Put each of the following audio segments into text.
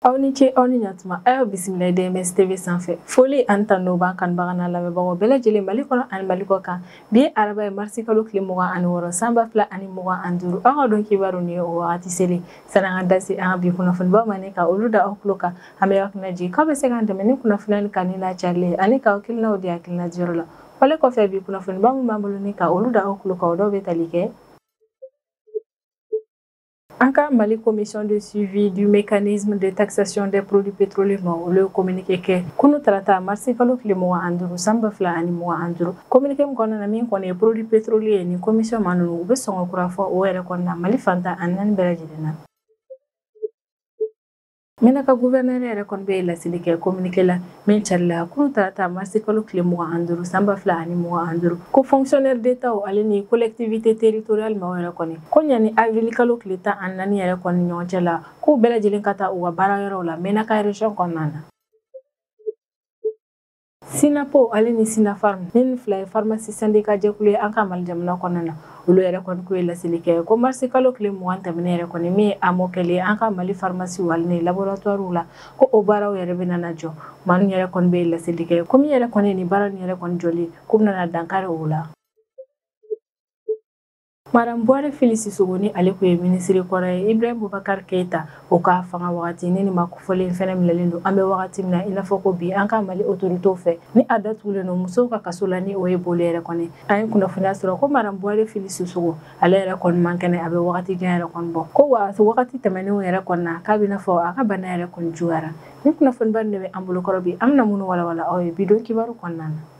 aw ni ce aw ni ɲatuma a y'aw bisimila dms tv sanfɛ foli ani tanu b'an kanubaga n'an lamɛnbagaw bɛɛ lajɛlen mali kɔnɔ ani mali kɔ kan bi ye araba ye marisi kalo tile mugan ani wɔɔrɔ san ba fila ani mugan ani duuru aw ka don kibaru nin ye o wagati selen sani an ka da se an ka bi kunnafonibaw ma ni ka olu da aw tulo kan an bɛ aw hakili lajigin k'aw bɛ se k'an dɛmɛ ni kunnafoniya nin kanuni n'a carili ye ani k'aw hakilinaw di hakilina diyɔrɔ la Wale kɔfɛ bi kunnafoniba min b'an bolo ni ka olu da aw tulo kan o dɔw bɛ tali kɛ an ka mali commission de suivi du mécanisme de taxation des produits pétroliers maa olu ye communiqué kɛ kunu tarata marisi kalo tile mugan ani duuru san ba fila ani mugan ani duuru communiqué min kɔnɔna na min kɔni ye produit pétrolier ye ni commission maa ninnu u bɛ sɔngɔ kura fɔ o yɛrɛ kɔni na mali fan tan ani naani bɛɛ lajɛlen na Mɛnaka gouverneur yɛrɛ kɔni bɛ laseli kɛ communiqué la min carila kunu tarata mars kalo tile 25 san 2025 ko fonctionnaires d'Etat ale ni collectivités territoriales maaw yɛrɛ kɔni ko yanni avril kalo tile 14 yɛrɛ kɔni ɲɔgɔn cɛ la k'u bɛɛ lajɛlen ka taa u ka baara yɔrɔw la mɛnaka region kɔnɔna na. sinapo ale ni sinafarm nin fila ye farmasi sandika jɛkulu ye an ka mali jamana kɔnɔna na olu yɛrɛ kɔni k'u ye laseli kɛ ko marisi kalo tile mugan tɛmɛnen yɛrɛ kɔni min ye amo kɛli ye an ka mali farmasiw ale ni laboratuwariw la ko o baaraw yɛrɛ bɛna na jɔ maa ninnu yɛrɛ kɔni bɛ laseli kɛ ko min yɛrɛ kɔni nin baara nin yɛrɛ kɔni jɔli k'u bɛna na dankari o la Madame Bouaré Fily Sissoko ni ale tun ye minisiri kɔrɔ ye Ibrahim Boubacar Keita o ka fanga wagati ni nin maa kofɔlen fɛnɛ minɛlen don an bɛ wagati min na i n'a fɔ ko bi an ka Mali autorités fɛ ni a datugulen don musow ka kaso la ni o ye Bollé yɛrɛ kɔni an ye kunnafoniya sɔrɔ ko Madame Bouaré Fily Sissoko ale yɛrɛ kɔni man kɛnɛ a bɛ wagati jan yɛrɛ kɔni bɔ ko wa wagati tɛmɛnenw yɛrɛ kɔni na k'a bɛ i n'a fɔ a ka bana yɛrɛ kɔni juguyara ni kunnafoniba nin de bɛ an bolokɔrɔ bi an bɛna minnu walawala aw ye bi don kibaru kɔnɔna na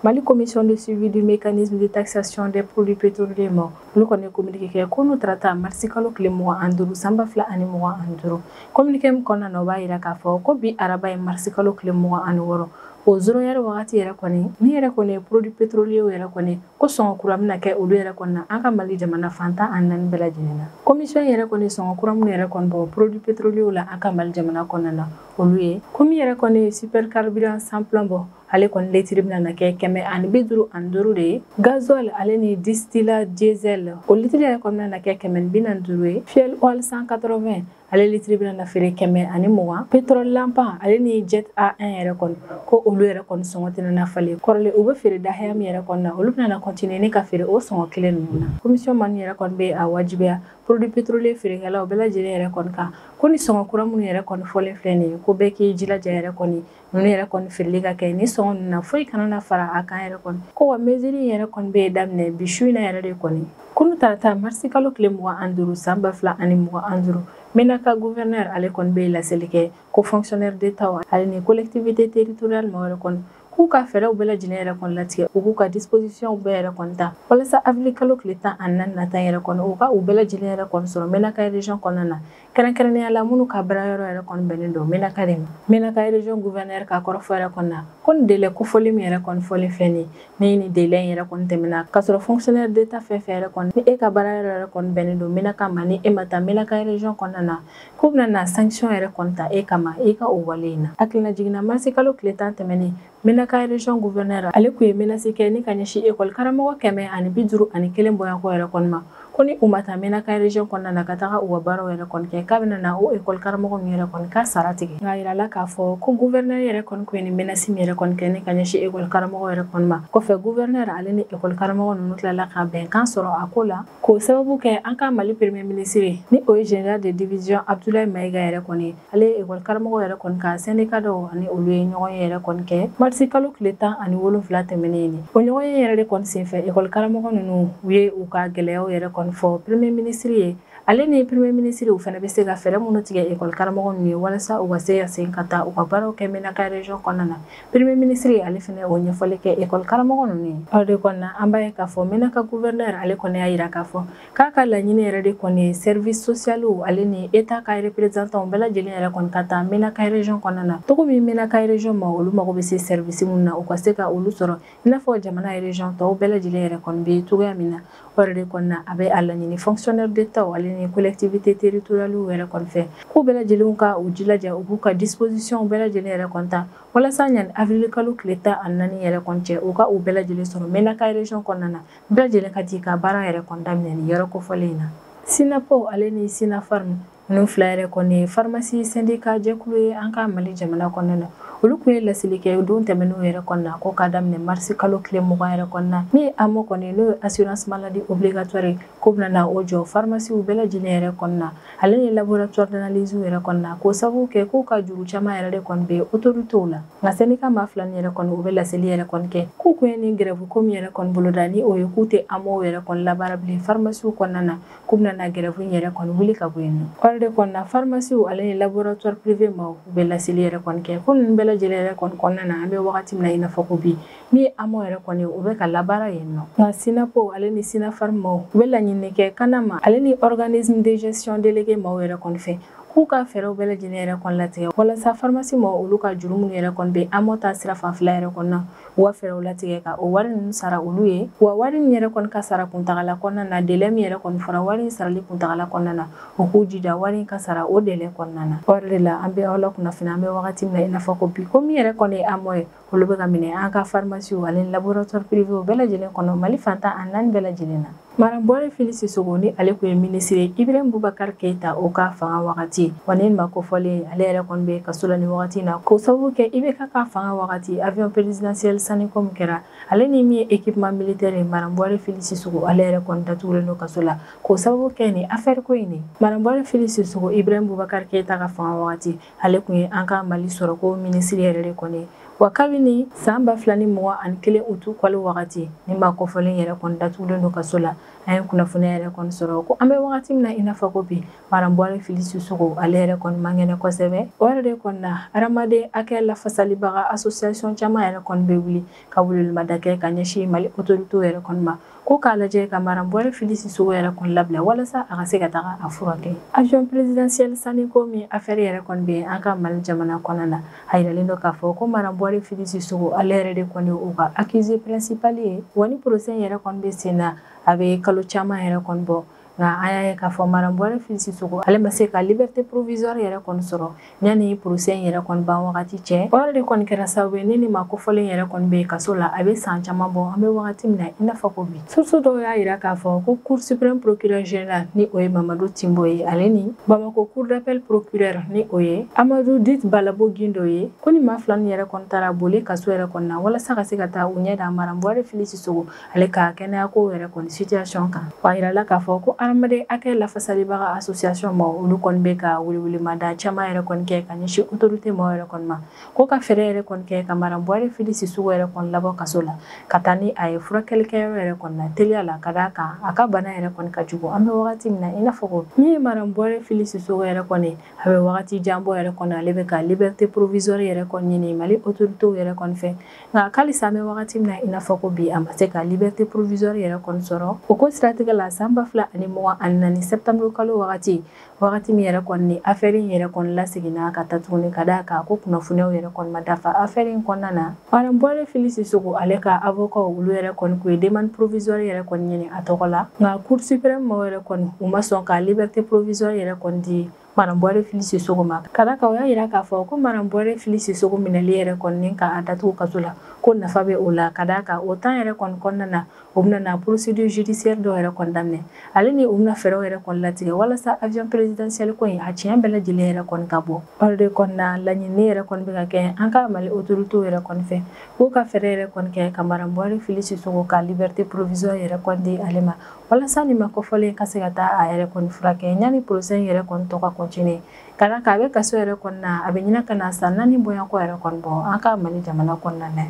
Mali commission de suivi du mécanisme de taxation des produits pétroliers maa olu kɔni ye communiqué kɛ kunu tarata marisi kalo tile mugan ani duuru san ba fila ani mugan ani duuru communiqué min kɔnɔna na o b'a yira k'a fɔ ko bi araba ye marisi kalo tile mugan ani wɔɔrɔ o zéro heure wagati yɛrɛ kɔni min yɛrɛ kɔni ye produit pétrolier yɛrɛ kɔni ko sɔngɔ kura bɛna kɛ olu yɛrɛ kɔni na an ka mali jamana fan tan ani naani bɛɛ lajɛlen na commission yɛrɛ kɔni sɔngɔ kura minnu yɛrɛ kɔni bɔ produit pétrolier la an ka mali jamana kɔnɔna na olu ye ko min yɛrɛ kɔni ye super carburant sans plomb ale kɔni litiri bɛna na kɛ kɛmɛ ani bi duuru ani duuru de ye gazuwal ale ni distillat diesel o litiri yɛrɛ kɔni bɛna na kɛ kɛmɛ ni bi naani ani duuru ye fuel oil 180 ale litiri bɛna na feere kɛmɛ ani mugan pétrole lampant ale ni jet A1 yɛrɛ kɔni ko olu yɛrɛ kɔni sɔngɔ tɛna na falen kɔrɔlen u bɛ feere dahaya min yɛrɛ kɔni na olu bɛna na continuer ni ka feere o sɔngɔ kelen ninnu na commission maa yɛrɛ kɔni bɛ a wajibiya produit pétrolier feerekɛlaw bɛɛ lajɛlen yɛrɛ kɔni kan ko nin sɔngɔ kura minnu yɛrɛ kɔni fɔlen filɛ nin ye ko bɛɛ k'i jilaja yɛrɛ kɔni ninnu yɛrɛ kɔni feereli ka kɛ ni sɔngɔ ninnu na foyi kana na fara a kan yɛrɛ kɔni ko wa mesure in yɛrɛ kɔni bɛ daminɛ bi su in na yɛrɛ de kɔni kunu tarata marisi kalo tile mugan ani duuru san ba fila ani mugan ani duuru menaka gouverneur ale kɔni bɛ laseli kɛ ko fonctionnaire d'etat ale ni collectivité territoriale maaw yɛrɛ kɔni k'u ka fɛɛrɛw bɛɛ lajɛlen yɛrɛ kɔni latigɛ u k'u ka dispositionw bɛɛ yɛrɛ kɔni ta walasa avril kalo tile tan ani naani nata yɛrɛ kɔnɔ u ka u bɛɛ lajɛlen yɛrɛ kɔni sɔrɔ menaka region kɔnɔna na kɛrɛnkɛrɛnnenya la minnu ka baara yɔrɔ yɛrɛ kɔni bɛnnen don menaka de ma menaka region gouverneur ka kɔrɔfɔ yɛrɛ kɔni na ko nin délai kofɔli min yɛrɛ kɔni fɔlen filɛ nin ni ni délai in yɛrɛ kɔni tɛmɛna k'a sɔrɔ fonctionnaire d'état fɛn fɛn yɛrɛ kɔni ni e ka baara yɔrɔ yɛrɛ kɔni bɛnnen don menaka ma ni e ma taa menaka region kɔnɔna na k'u bɛna na sanction yɛrɛ kɔni ta e kama i ka o wale in na hakilinajigin na marisi kalo tile tan tɛmɛnen Menaka region gouverneur ale kun ye menasi kɛ ni ka ɲɛsin ekɔli karamɔgɔ kɛmɛ ani bi duuru ani kelen bɔɲɔgɔnko yɛrɛ kɔni ma ko ni u ma taa menaka region kɔnɔna na ka taga u ka baaraw yɛrɛ kɔni kɛ k'a bɛna na o ekɔli karamɔgɔ ninnu yɛrɛ kɔni ka sara tigɛ nka yirala k'a fɔ ko gouverneur yɛrɛ kɔni kun ye nin menasi min yɛrɛ kɔni kɛ ni ka ɲɛsin ekɔli karamɔgɔ yɛrɛ kɔni ma kɔfɛ gouverneur ale ni ekɔli karamɔgɔ ninnu tilala ka bɛnkan sɔrɔ a ko la k'o sababu kɛ an ka mali premier ministre ni o ye general de division abdoulaye mayiga yɛrɛ kɔni ye ale ye ekɔli karamɔgɔ yɛrɛ kɔni ka sɛndika dɔw ani olu ye ɲɔgɔnye yɛrɛ kɔni kɛ marisi kalo tile tan ani wolonfila tɛmɛnen nin o ɲɔgɔnye yɛrɛ de kɔni senfɛ ekɔli karamɔgɔ ninnu u ye u ka gɛlɛyaw yɛrɛ kɔni fɔ premier minisiri ye ale ni premier minisiri u fana bɛ se ka fɛɛrɛ minnu tigɛ ekɔli karamɔgɔ ninnu ye walasa u ka se ka segin ka taa u ka baaraw kɛ menaka region kɔnɔna na premier minisiri ale fana o ɲɛfɔli kɛ ekɔli karamɔgɔ ninnu ye o de kɔnɔna an b'a ye k'a fɔ menaka gouverneur ale kɔni y'a yira k'a fɔ k'a ka laɲini yɛrɛ de kɔni ye service socialiw ale ni eta ka representanw bɛɛ lajɛlen yɛrɛ kɔni ka taa menaka region kɔnɔna na cogo min menaka region maaw olu mago bɛ se service minnu na u ka se ka olu sɔrɔ i n'a fɔ jamana region tɔw bɛɛ lajɛlen yɛrɛ kɔni bɛ cogoya min na o yɛrɛ de kɔni na a bɛ a laɲini fonctionnaire d'etat ale ni collectivité territorialiw yɛrɛ kɔni fɛ k'u bɛɛ lajɛlen ka u jilaja u b'u ka dispositionw bɛɛ lajɛlen yɛrɛ kɔni ta walasa yani avril kalo tile tan ani naani yɛrɛ kɔni cɛ u ka u bɛɛ lajɛlen sɔrɔ menaka region kɔnɔna na Bɛɛ lajɛlen ka jɛ ka baara yɛrɛ kɔni daminɛ nin yɔrɔ kofɔlen in na. Synappo ale ni Synapharm ninnu fila yɛrɛ kɔni ye farimasi sendika jɛkulu ye an ka Mali jamana kɔnɔna na. Olu kun ye laseli kɛ don tɛmɛnenw yɛrɛ kɔnɔna na ko ka daminɛ marisi kalo tile mugan yɛrɛ kɔnɔna na. Min ye AMO kɔni ye n'o ye assurance maladie obligatoire ye k'u bɛna na o jɔ farimasiw bɛɛ lajɛlen yɛrɛ kɔnɔna na. ale ni laboratoire d'analyse yɛrɛ kɔni na k'o sababu kɛ k'u ka juru caman yɛrɛ de kɔni bɛ autorités la nka sɛnika maa fila nin yɛrɛ kɔni u bɛ laseli yɛrɛ kɔni kɛ k'u kun ye nin grève ko min yɛrɛ kɔni boloda ni o ye k'u tɛ AMO yɛrɛ kɔni labaara bilen pharmaciw kɔnɔna na k'u bɛna na grève in yɛrɛ kɔni wuli ka bɔ yen nɔ o yɛrɛ de kɔni na pharmaciw ale ni laboratoire privé maaw u bɛ laseli yɛrɛ kɔni kɛ ko ninnu bɛɛ lajɛlen yɛrɛ kɔni kɔnɔna na an bɛ wagati min na i n'a fɔ ko bi Ni amɔ yɛrɛ kɔni u bɛ ka labaara yen nɔ nka sinapo ale ni sinafarm maaw u bɛ laɲini kɛ kanam ale ni organisme de gestion délégué maaw yɛrɛ kɔni fɛ k'u ka fɛɛrɛw bɛɛ lajɛlen yɛrɛ kɔni latigɛ walasa farmasi maaw olu ka juru minnu yɛrɛ kɔni bɛ amɔ ta sira fanfɛla yɛrɛ kɔni na u ka fɛɛrɛw latigɛ ka o wari ninnu sara olu ye wa wari min yɛrɛ kɔni ka sara kuntagala kɔnɔna na délai min yɛrɛ kɔni fɔra wari in sarali kuntagala kɔnɔna na u k'u jija wari in ka sara o délai kɔnɔna na o de la an bɛ aw lakunnafoni an bɛ wagati min na i n'a fɔ ko bi ko min yɛrɛ kɔni ye amɔ ye olu bɛ ka minɛ an ka farimasiw ale ni laboratoire privéw bɛɛ lajɛlen kɔnɔ mali fan tan ani naani bɛɛ lajɛlen na madame buware fili sisogo ni ale tun ye minisiri ye ibrahim bubakari keyita o ka fanga wagati wa nin maa kofɔlen ale yɛrɛ kɔni bɛ kaso la ni wagati na k'o sababu kɛ ibeka ka fanga wagati avion présidentiel sanni ko min kɛra ale ni min ye équipement militaire ye madame buware fili sisogo ale yɛrɛ kɔni datugulen don kaso la k'o sababu kɛ nin afɛri ko in ye madame buware fili sisogo ibrahim bubakari keyita ka fanga wagati ale tun ye an ka mali sɔrɔko minisiri yɛrɛ de kɔni wa kabini san ba fila ni mugan ani kelen utu kalo wagati nin maa kofɔlen yɛrɛ kɔni datugulen don kaso la an ye kunnafoniya yɛrɛ kɔni sɔrɔ ko an bɛ wagati min na i n'a fɔ ko bi madame buware fili sisogo ale yɛrɛ kɔni man kɛnɛ kosɛbɛ o yɛrɛ de kɔni na hadamaden hakɛ lafasalibaga association caman yɛrɛ kɔni bɛ wuli ka welewelemada kɛ ka ɲɛsin mali autoritéw yɛrɛ kɔni ma ko k'a lajɛ ka madame buware fili sisogo yɛrɛ kɔni labila walasa a ka se ka taga a furakɛ avion présidentiel sanni ko min afɛri yɛrɛ kɔni bɛ an ka mali jamana kɔnɔna na a yiralen don k'a fɔ ko madame buware fili sisogo ale yɛrɛ de kɔni u ka accusé principal ye wa ni procès yɛrɛ kɔni bɛ sen na a bɛ kalo caman yɛrɛ kɔni bɔ nka an y'a ye k'a fɔ madame buware fili sisogo ale ma se ka liberté provisoire yɛrɛ kɔni sɔrɔ yanni procès in yɛrɛ kɔni ban wagati cɛ o yɛrɛ de kɔni kɛra sababu ye ni nin maa kofɔlen yɛrɛ kɔni bɛ kaso la a bɛ san caman bɔ an bɛ wagati min na i n'a fɔ ko bi source dɔw y'a yira k'a fɔ ko cour suprême procureur général ni o ye mamadu timbo ye ale ni bamako cour d'appel procureur ni o ye amadu dit balabo gindo ye ko nin maa fila nin yɛrɛ kɔni taara bole kaso yɛrɛ kɔni na walasa ka se ka taa u ɲɛ da madame buware fili sisogo ale ka kɛnɛya ko yɛrɛ kɔni situation kan wa a yirala k'a fɔ ko hadamaden hakɛ lafasalibaga association maaw olu kɔni bɛ ka welewelemada caman yɛrɛ kɔni kɛ ka ɲɛsin autorité maaw yɛrɛ kɔni ma ko ka fɛɛrɛ yɛrɛ kɔni kɛ ka madame buware fili sisogo yɛrɛ kɔni labɔ kaso la ka taa ni a ye furakɛlikɛyɔrɔ yɛrɛ kɔni na teliya la ka d'a kan a ka bana yɛrɛ kɔni ka jugu an bɛ wagati min na i n'a fɔ ko min ye madame buware fili sisogo yɛrɛ kɔni a bɛ wagati jan bɔ yɛrɛ kɔni ale bɛ ka liberté provisoire yɛrɛ kɔni ɲini mali autorités yɛrɛ kɔni fɛ nka halisa an bɛ wagati min na i n'a fɔ ko bi a ma se ka liberté provisoire yɛrɛ kɔni sɔrɔ o ko siratigɛ la san ba fila ani mugan ani naani septembre kalo wagati wagati min yɛrɛ kɔni ni afɛri in yɛrɛ kɔni laseginna ka ta tuguni ka d'a kan ko kunnafoniyaw yɛrɛ kɔni ma dafa afɛri in kɔnɔna na madame buware fili sisogo ale ka avocat olu yɛrɛ kɔni k'u ye demande provisoire yɛrɛ kɔni ɲini a tɔgɔ la nka cour suprême maaw yɛrɛ kɔni u ma sɔn ka liberté provisoire yɛrɛ kɔni di Madame Bouaré Fily Sissoko ma ka d'a kan o y'a jira k'a fɔ ko Madame Bouaré Fily Sissoko minɛli yɛrɛ kɔni k'a datugu kaso la ko nafa bɛ o la ka d'a kan o temps yɛrɛ kɔni kɔnɔna na u bɛna procédure judiciaire dɔw yɛrɛ kɔni daminɛ ale ni u bɛna fɛɛrɛw yɛrɛ kɔni latigɛ walasa avion présidentiel ko in a tiɲɛ bɛɛ lajɛlen yɛrɛ kɔni ka bɔ o de kɔni na laɲini yɛrɛ kɔni bɛ ka kɛ an ka Mali autorités yɛrɛ kɔni fɛ k'u ka fɛɛrɛ yɛrɛ kɔni kɛ ka Madame Bouaré Fily Sissoko ka liberté provisoire yɛrɛ kɔni di ale ma walasa nin maa kofɔlen ka se ka taa a yɛrɛ kɔni furakɛ yanni procès in yɛrɛ kɔni tɔ ka continuer ka d'a kan a bɛ kaso yɛrɛ kɔni na a bɛ ɲina ka na san naani bonya ko yɛrɛ kɔni bɔ an ka mali jamana kɔnɔna na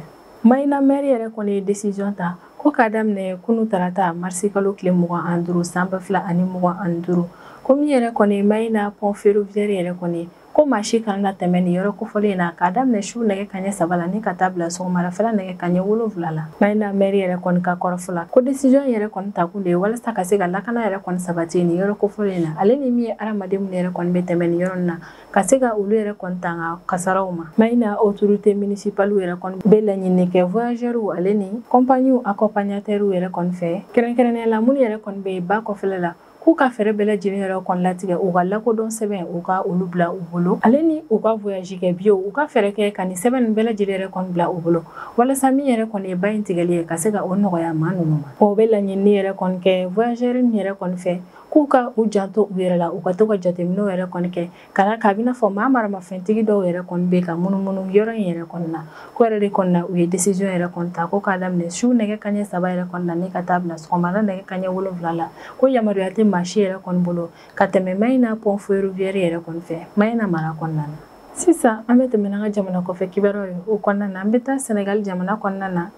mayina mɛri yɛrɛ kɔni ye décision ta ko k'a daminɛ kunu tarata marisi kalo tile mugan ani duuru san ba fila ani mugan ani duuru ko min yɛrɛ kɔni mayina pont ferroviaire yɛrɛ kɔni ko maa si kana na tɛmɛ nin yɔrɔ kofɔlen in na k'a daminɛ su nɛgɛ kaɲɛ saba la ni ka taa bila sɔgɔmadafɛla nɛgɛ kaɲɛ wolonwula la mayina mɛri yɛrɛ kɔni ka kɔrɔfɔ la ko décision yɛrɛ kɔni takun de ye walasa ka se ka lakana yɛrɛ kɔni sabati nin yɔrɔ kofɔlen in na ale ni min ye hadamaden minnu yɛrɛ kɔni bɛ tɛmɛ nin yɔrɔ na ka se ka olu yɛrɛ kɔni tanga kasaraw ma mayina autorité municipalew yɛrɛ kɔni bɛ laɲini kɛ voyageurw ale ni compagniew accompagnateurw yɛrɛ kɔni fɛ kɛrɛnkɛrɛnnenya la minnu yɛrɛ kɔni bɛ ba kɔfɛla la k'u ka fɛɛrɛ bɛɛ lajɛlen yɛrɛ kɔni latigɛ u ka lakodɔn sɛbɛn u ka olu bila u bolo ale ni u ka voyage kɛ biyew u ka fɛɛrɛ kɛ ka nin sɛbɛn ninnu bɛɛ lajɛlen yɛrɛ kɔni bila u bolo walasa min yɛrɛ kɔni ye ba in tigɛli ye ka se ka o nɔgɔya maa ninnu ma o bɛ laɲinini yɛrɛ kɔni kɛ voyageur nin yɛrɛ kɔni fɛ k'u ka u janto u yɛrɛ la u ka to ka jateminɛw yɛrɛ kɔni kɛ Ka d'a kan a bɛ i n'a fɔ maa maramafɛntigi dɔw yɛrɛ kɔni bɛ ka munumunu yɔrɔ in yɛrɛ kɔni na, k'o yɛrɛ de kɔni na u ye décision yɛrɛ kɔni ta ko k'a daminɛ su nɛgɛ kanɲɛ saba yɛrɛ kɔni na ni ka taa bila sɔgɔmada nɛgɛ kanɲɛ wolonwula la, ko yamaruya tɛ maa si yɛrɛ kɔni bolo ka tɛmɛ Mayina pont ferroviaire yɛrɛ kɔni fɛ Mayina mara kɔnɔna na. Sisan an bɛ tɛmɛ n'an ka jamana kɔfɛ kibaruyaw ye o kɔnɔna na, an bɛ taa Senegal jamana kɔnɔna na.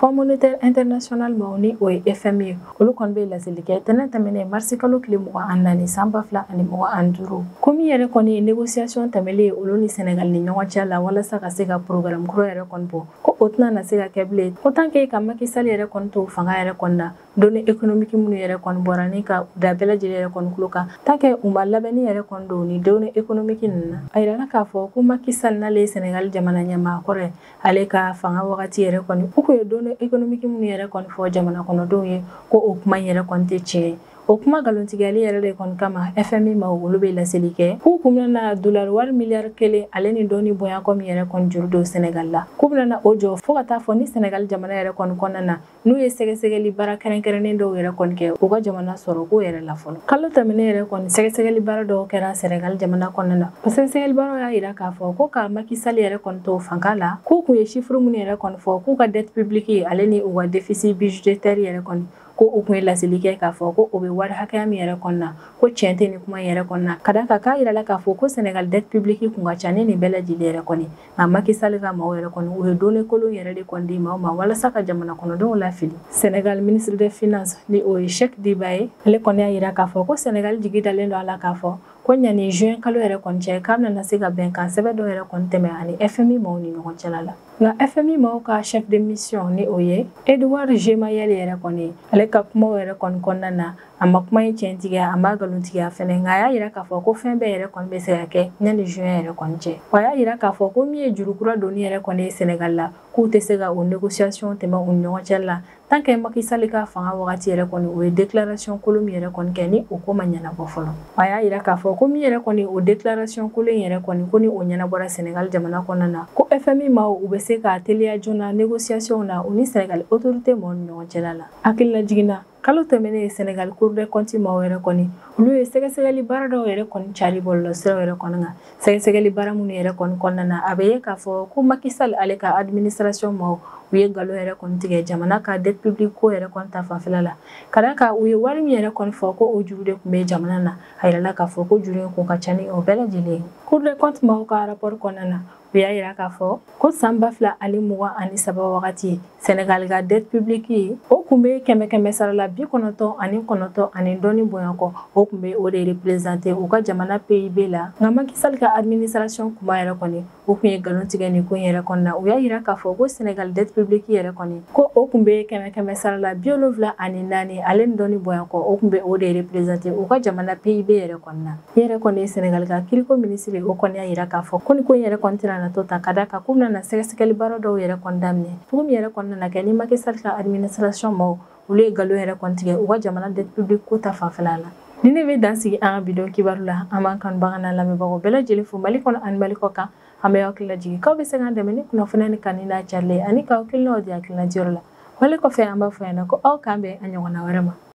Fonds monétaire international maaw ni o ye FMI ye olu kɔni bɛ laseli kɛ tɛnɛ tɛmɛnen marisi kalo tile mugan ani naani san ba fila ani mugan ani duuru ko min yɛrɛ kɔni ye négociation tɛmɛlen ye olu ni Senegal ni ɲɔgɔn cɛ la walasa ka se ka programme kura yɛrɛ kɔni bɔ ko o tɛna na se ka kɛ bilen ko tant que ka Macky Sall yɛrɛ kɔni to fanga yɛrɛ kɔni na données économiques minnu yɛrɛ kɔni bɔra ni ka da bɛɛ lajɛlen yɛrɛ kɔni tulo kan tant que u ma labɛnni yɛrɛ kɔni don nin données économiques ninnu na a yirala k'a fɔ ko Macky Sall n'ale ye Senegal jamana ɲɛmaa kɔrɔ ye ale ka fanga wagati yɛrɛ kɔni u kun ye données économiques minnu yɛrɛ kɔni fɔ jamana kɔnɔdenw ye ko o kuma in yɛrɛ kɔni tɛ tiɲɛ ye o kuma nkalontigɛli yɛrɛ de kɔni kama FMI maaw olu bɛ laseli kɛ k'u kun bɛna dolari wari miliyari kelen ale ni dɔɔni bonya ko min yɛrɛ kɔni juru don Senegal la k'u bɛna o jɔ fo ka taa fɔ ni Senegal jamana yɛrɛ kɔni kɔnɔna na n'u ye sɛgɛsɛgɛli baara kɛrɛnkɛrɛnnen dɔw yɛrɛ kɔni kɛ u ka jamana sɔrɔ ko yɛrɛ la fɔlɔ kalo tɛmɛnen yɛrɛ kɔni sɛgɛsɛgɛli baara dɔw kɛra Senegal jamana kɔnɔna na o sɛgɛsɛgɛli baaraw y'a yira k'a fɔ ko ka Macky Sall yɛrɛ kɔni to fanga la k'u kun ye chiffre minnu yɛrɛ kɔni fɔ k'u ka dette publique ale ni u ka déficit budgétaire yɛrɛ kɔni ko u kun ye laseli kɛ k'a fɔ ko o bɛ wari hakɛya min yɛrɛ kɔnɔna ko tiɲɛ tɛ ni kuma yɛrɛ kɔnɔna ka da kan k'a yirala k'a fɔ ko Senegal dette publique kun ka ca ni nin bɛɛ lajɛlen yɛrɛ kɔni nka Macky Sall ka maaw yɛrɛ kɔni u ye données kolon yɛrɛ de kɔni di maaw ma walasa ka jamana kɔnɔdenw lafili senegal ministre des finances ni o ye Cheikh Diba ye ale kɔni y'a yira k'a fɔ ko senegal jigi dalen don a la k'a fɔ ko ɲani juin kalo yɛrɛ kɔni cɛ k'a bɛna se ka bɛnkan sɛbɛn dɔ yɛrɛ kɔni tɛmɛ ani fmi maaw ni ɲɔgɔn cɛla la nka fmi maaw ka chef de mission ni o ye Edward Gemayel yɛrɛ kɔni ale ka kumaw yɛrɛ kɔni kɔnɔna na a ma kuma in tiɲɛtigiya a m'a galontigiya fɛnɛ nka a y'a yira k'a fɔ ko fɛn bɛɛ yɛrɛ kɔni bɛ se ka kɛ ɲani juin yɛrɛ kɔni cɛ wa a y'a yira k'a fɔ ko min ye juru kura donni yɛrɛ kɔni ye Sénégal la k'u tɛ se ka o négociation tɛmɛ u ni ɲɔgɔn cɛ la tant que Macky Sall ka fanga wagati yɛrɛ kɔni u ye déclaration kolon min yɛrɛ kɔni kɛ ni o ko ma ɲɛnabɔ fɔlɔ a y'a yira k'a fɔ ko min yɛrɛ kɔni o déclaration kolon in yɛrɛ kɔni ko ni o ɲɛnabɔra Sénégal jamana kɔnɔna na ko FMI maaw u bɛ se ka teliya joona négociation na u ni Sénégal autorité mɔgɔw ni ɲɔgɔn cɛla la hakililajigin na Kalo tɛmɛnen Senegal Cour des comptes maaw yɛrɛ kɔni, olu ye sɛgɛsɛgɛli baara dɔw yɛrɛ kɔni cari bɔlɔlɔsiraw yɛrɛ kɔni kan. Sɛgɛsɛgɛli baara minnu yɛrɛ kɔni kɔnɔna na, a bɛ ye k'a fɔ ko Macky Sall ale ka administration maaw, u ye nkalon yɛrɛ kɔni tigɛ jamana ka dette publique ko yɛrɛ kɔni ta fanfɛla la. Ka d'a kan u ye wari min yɛrɛ kɔni fɔ ko o juru de tun bɛ jamana na, a yirala k'a fɔ ko juru in kun ka ca ni o bɛɛ lajɛlen ye. Cour des comptes maaw ka rapport kɔnɔna na, u y'a yira k'a fɔ ko saan ba fila ani mugan ani saba wagati Senegal ka dette publique o kun be kɛmɛ kɛmɛ sarala bi kɔnɔtɔn ani kɔnɔtɔn ani dɔɔni bonya kɔ o kun be o de représenter u ka jamana PIB la nka Macky Sall ka administration kuma yɛrɛ kɔni u kun ye galon tigɛ nin ko yɛrɛ kɔnɔna u y'a yira k'a fɔ ko Senegal dette publique yɛrɛ kɔni ko o kun be kɛmɛ kɛmɛ sarala bi wolonfila ani naani ale ni dɔɔni bonya kɔ o kun be o de représenter u ka jamana PIB yɛrɛ kɔnɔna min yɛrɛ kɔni ye Senegal ka kiriko minisiri o kɔni y'a yira k'a fɔ ko nin ko in yɛrɛ kɔni tɛna na to tan ka da kan k'u bɛna na sɛgɛsɛgɛli baara dɔw yɛrɛ kɔni daminɛ cogo min yɛrɛ kɔni nana kɛ ni Macky Sall ka administration mɔgɔw olu ye nkalon yɛrɛ kɔni tigɛ u ka jamana dette publique ko ta fanfɛla la nin de bɛ dan sigi an ka bi don kibaru la an b'an kanubagaw n'an lamɛnbagaw bɛɛ lajɛlen fo mali kɔnɔ ani mali kɔkan an bɛ hakili lajigin k'aw bɛ se k'an dɛmɛ ni kunnafoni in kanuni n'a carili ani k'aw hakilinaw di hakilina diyɔrɔ la wale kɔfɛ an b'a fɔ yan na ko aw k'an bɛn a ɲɔgɔnna wɛrɛ ma